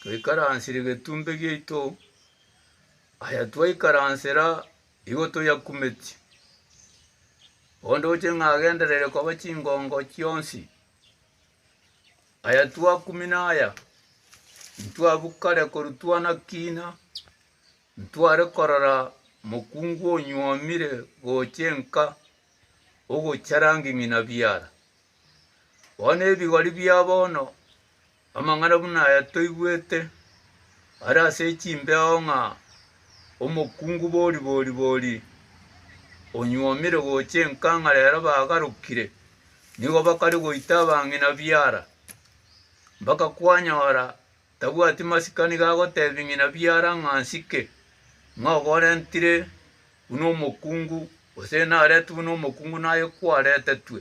Twaikaransire getuumbe giaito, aya twaikaransera igo toyakumetie. Ondoche ng'a agenderere koba chingongo chionsi. Aya twakumina aya, ntwabua kare korwa twana-kiina, ntware korora mokungu onyuomire gocha enka, ogocha rangi ng'ina biara. Bono ebigori bia bono. Amang'ana buna aya toigwete are ase chimbeo ng'a omokungu bori bori bori onyuomire gocha enkang'ara ero bagarokire, nigo bakare goita abang'ina biara, mpaka kwanyora tabwati masikani gagotebia ng'ina biara ng'a nsike, ng'a ogorentire buna omokungu, gose naretwe buna omokungu naye kwaretetwe.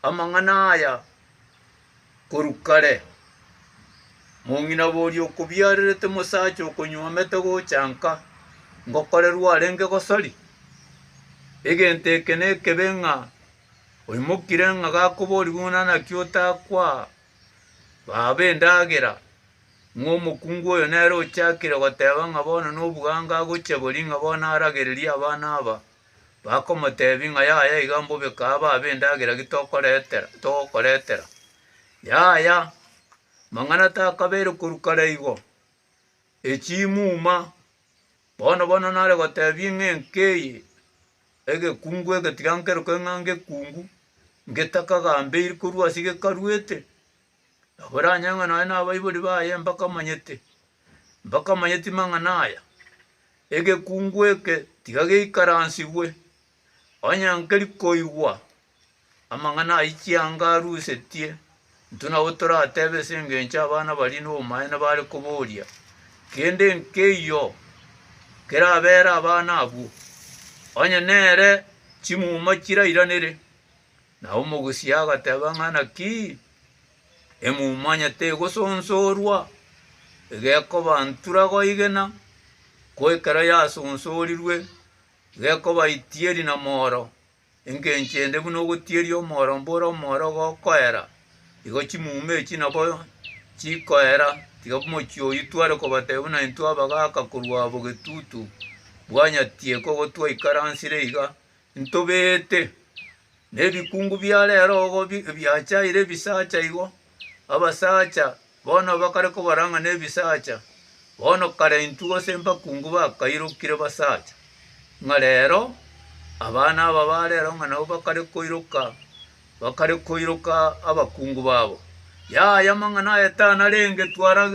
Amang'ana aya korwa kare, Mong'ina boria okobiarerete mosacha okonywomete gocha nka, ngokorerwa arenge gosori, egento eke nekebe ng'a oimokire ng'a gakoboria buna naki otakwa baba endagera, ng'a omokungu oyo nere ochakire goteba ng'a bono nobwango agoche boria ng'a bono aragererie abana aba. Bakomoteebia ng'a yaya iga mbobe kaa babe endagera ki tokoretera togokoretera. Yaya mang'ana takabeire korwa kare igo, echimuma bono bono nare goteebia ng'a enka eye egekungu egetiga nkerokere ng'a ngekungu ngetakagambeiri korwa ase gekaruete Naboranye ng'a nonye nabaibori baye mbakamanyete, mbakamanyeti mang'ana aya, egekungu eke tiga geikaransigwe, onye nkeri koigwa amang'ana ayio chianga arusetie, intwe nabo toratebe ase engencho abana baria nobomaene bare koboria, kende nkeiyo kerabere abana abwo, onye nere chimuma chirairanere. Na omogusia agateba ng'a, Naki emumanyete egosonsorwa egekobantura goigena, ko ekero yasonsorirwe gekobaitieri na mooro, engencho ende buna ogotieria omooro mbore omooro gokoera, igo chimuma echi nabo chikoera. Tiga mochie oyio tware kobatebia buna intwe abagaaka korwa abo getutu bwanyatie ko gotwaikaransire iga, Ntobete nebikungu bia rero ogo ebiachaire ebisacha igo, abasacha bono bakare kobara ng'a nebisacha, bono kare intwe gose mbakungu bakairokire basacha, ng'a rero abana aba ba rero ng'a nabo bakare koiroka, bakare koiroka abakungu babo. Yaya amang'ana aye tanarenge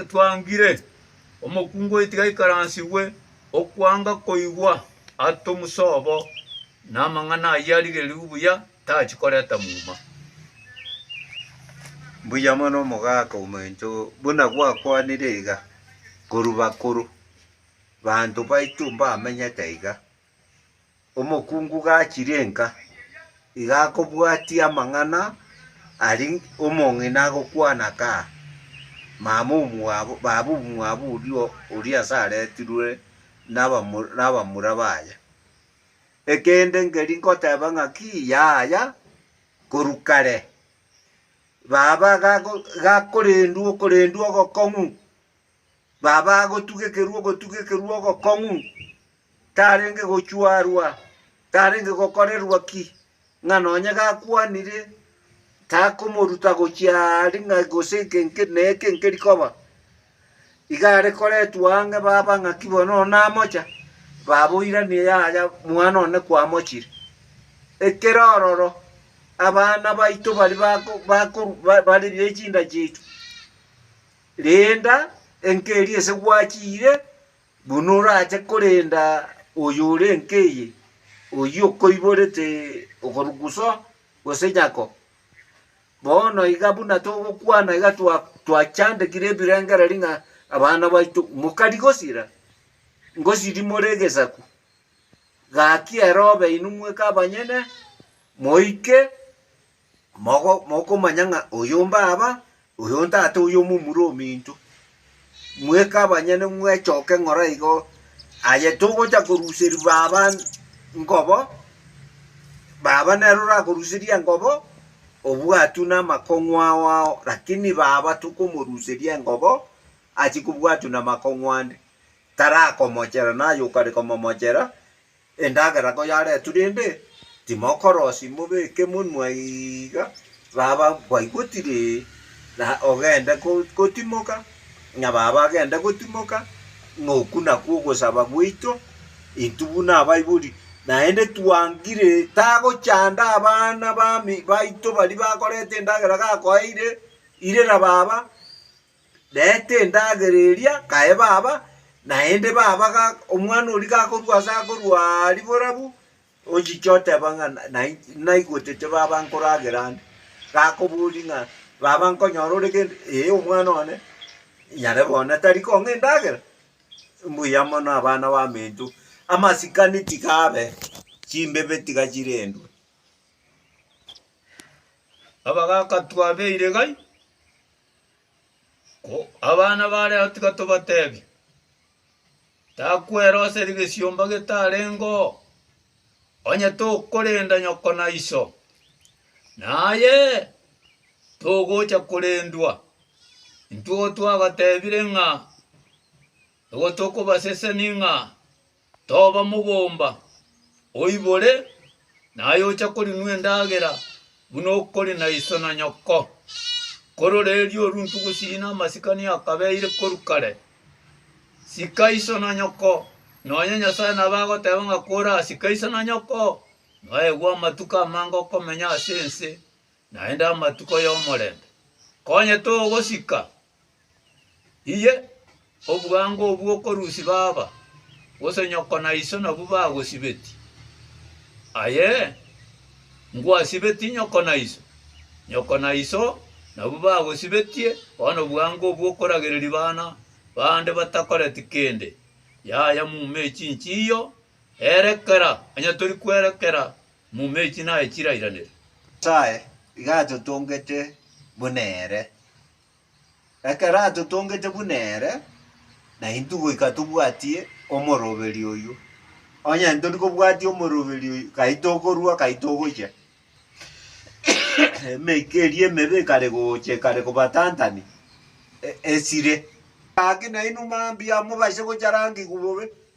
twangire. Omokungu oyo tiga aikaransirwe okwanga koigwa ate omosobo, na amang'ana ayio arigererigwe buya tachi koreta muma. Mbuya mono omogaka omoencho, buna gwakwanire iga, korwa bakoro, banto baito mbamenyete iga. Omokungu gachirie nka, iga akobwatia amang'ana aria omong'ina agokwana ka, Mama omwabo, baba omwabo oria oria ase aretirwe nabamura nabamura baye. Ekende nkeri nkoteba ng'aki yaya korwa kare, baba gago gakorendwa okorendwa ogokong'u, Baba agotugekerwa ogotugekerwa ogokong'u, tarenge gochwarwa, tarenge gokorerwa ki, ng'a nonye gakwanire takomoruta gochia aria ng'a gose eke nke ne eke nkeri koba. Iga are koretwa ang'e baba ng'aki bono oyo namocha, baba oiranie yaya mwana one kwamochire. Ekero ororo abana baito bari bako bakoru ba- bari be chinda chiaito. Renda enkeri ase gwachiire, buna orache korenda oyore enka eye, oyio okoiborete okoruguso gose nyako. Bono iga buna togokwana iga twa twachandegire ebirengereri ng'a abana baito mokari gosira, ngosiri more egesaku, gaki ero obe inwe mweka abanyene, moike. Mogo, mokomanya ng'a oyo mbaaba, oyo ntate, oyo omomura ominto. Mweke abanyene mwechoke ng'ora igo, aye togocha koruseria baba ngobo, baba nero orakoruseria engobo, obwatwe namakong'u ao ao, lakini baba tokomoruseria engobo, achikobwatwa namakong'u ande, tarakomochera, naye okare komomochera, Endagera koyaretwe rende timokorosia mobeke monwa iga baba baigotire na ogende gotimoka na baba agende gotimoka ng'a oku nakwo ogosaba gwaito intwe buna abaibori naende twangire tagochanda abana baito baria bakoreta endagera gakoeire irera baba Reta endagera eria, kae baba. Naende baba omwana oria gakorua ase akorua riborabu, ochiche oteba ng'a naigotete baba nkoragera ande. Gakobori ng'a baba nkonyora ore gento, ee omwana one, nyarebe one tari kong'a endagera, mbuya mono abana baminto. Amasikani tiga abe, chimbebe tiga chirendwe. Baba gagatwabeire gai. Ko abana ba Lea tiga tobatebie, takwera ase rigesiomba getarengeo, onye tokorenda nyoko na iso, naye togocha korendwa. Intwo twagatebirie ng'a egotokobaseseni ng'a. Toba mogomba, oibore, naye oche korinua endagera buna okori na iso na nyoko. Korora erio oruntu gosii namasikani akabeire korwa kare. Sika iso na nyoko, nonye Nyasae nabo agoteba ng'a korasike iso na nyoko, noegwe amatuko amange okomenya ase ense, naende amatuko y'omorembe. Konye togosika, Inye, obwango obwo okorusia baba, gose nyoko na iso nabwo bagosibetie? Aye, ngwasibetie nyoko na iso, nyoko na iso nabwo bagosibetie, bono obwango obwo okoragereria bana bande batakoreti kende. Yaya muma echinchi iyo, erekera, onye tori kwerekera muma echinaye chirairanere. Nyasae iga atotongete buna ere, Ekero atotongete buna ere, naintwe goika tobwatie omoroberi oyio. Onye tori kobwatia omoroberi oyio, gai tokorua, gai togocha. Emeika eria emebe ekare gocha, ekare kobatantania, e- esire. Gaki nainwe mambia, mobaise gocharangigwa bobe.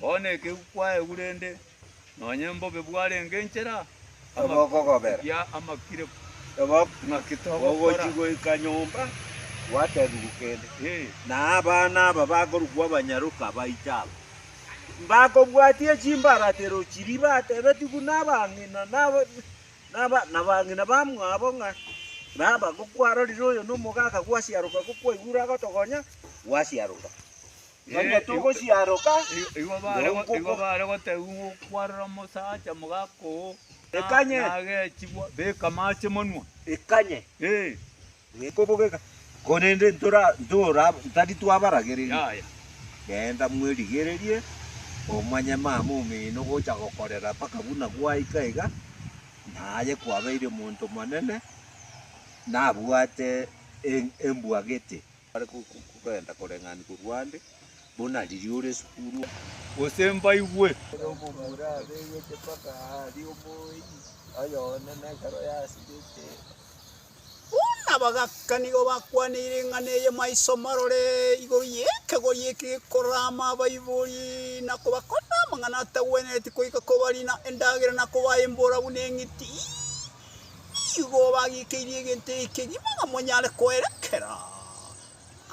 Bono ekegwi kwaegwu rende, nonye mbobe bwarenge enchera, Ebe okogobera. amakia amakire. Ebe Ng'aki togokora? ogochi goika nyomba, gwatebiwu kende. Eh, Na abana aba bakorukwa abanyaroka baiche aba, mbakobwatie chimbaratero chiria batebetiwu nabang'ina naba naba nabang'ina bamwabo ng'a, Baba, gokwarorire oyo nomogaaka gwasiaroka gokwaigure agotogonya, gwasiaroka. Nonya togosiaroka, nonkoko. Bare gotegigwa okwarora omosacha omogaka oo, Ekanye. Nagechigwa, beka amache monwa. Ekanye. Ee. Gekobogeka. Korende ntora, ntora, ntari twabaragereria. Yaya. Genda mwerigererie, omanye mama omino gocha gokorera mpaka buna gwaika iga, naye kwabeire omonto monene, nabwate embwagete. Bare kogenda koreng'ani korwa ande, buna riria ore esukuru, gose mbaigwe. Ere omomura abeegete mpaka aria omoeyi oye one na ekero yasirete. Buna bagaka nigo bakwaneire eng'ana eye maiso marore igoro y'ekegori eke gekorama abaibori, na kobakorera amang'ana atagwenereti koika kobarina endagera na kobaembora buna eng'iti. nigo bagikeirie egento ekegima namonyare koerekera.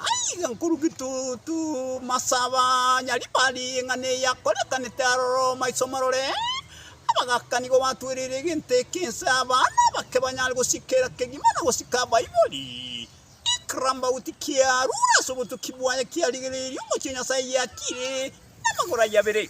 Aiga nkoruki tu tu masaba nyaribari eng'ana eyakorekanete aroro maiso marore, abagaka nigo batwereire egento eke ense abana abake banyare gosikera kegima na gosika Baiboli. Ekrambaut kia rure ase obotuki bwaye kiarigereirie omochie Nyasaye giakire namagoro ayabere.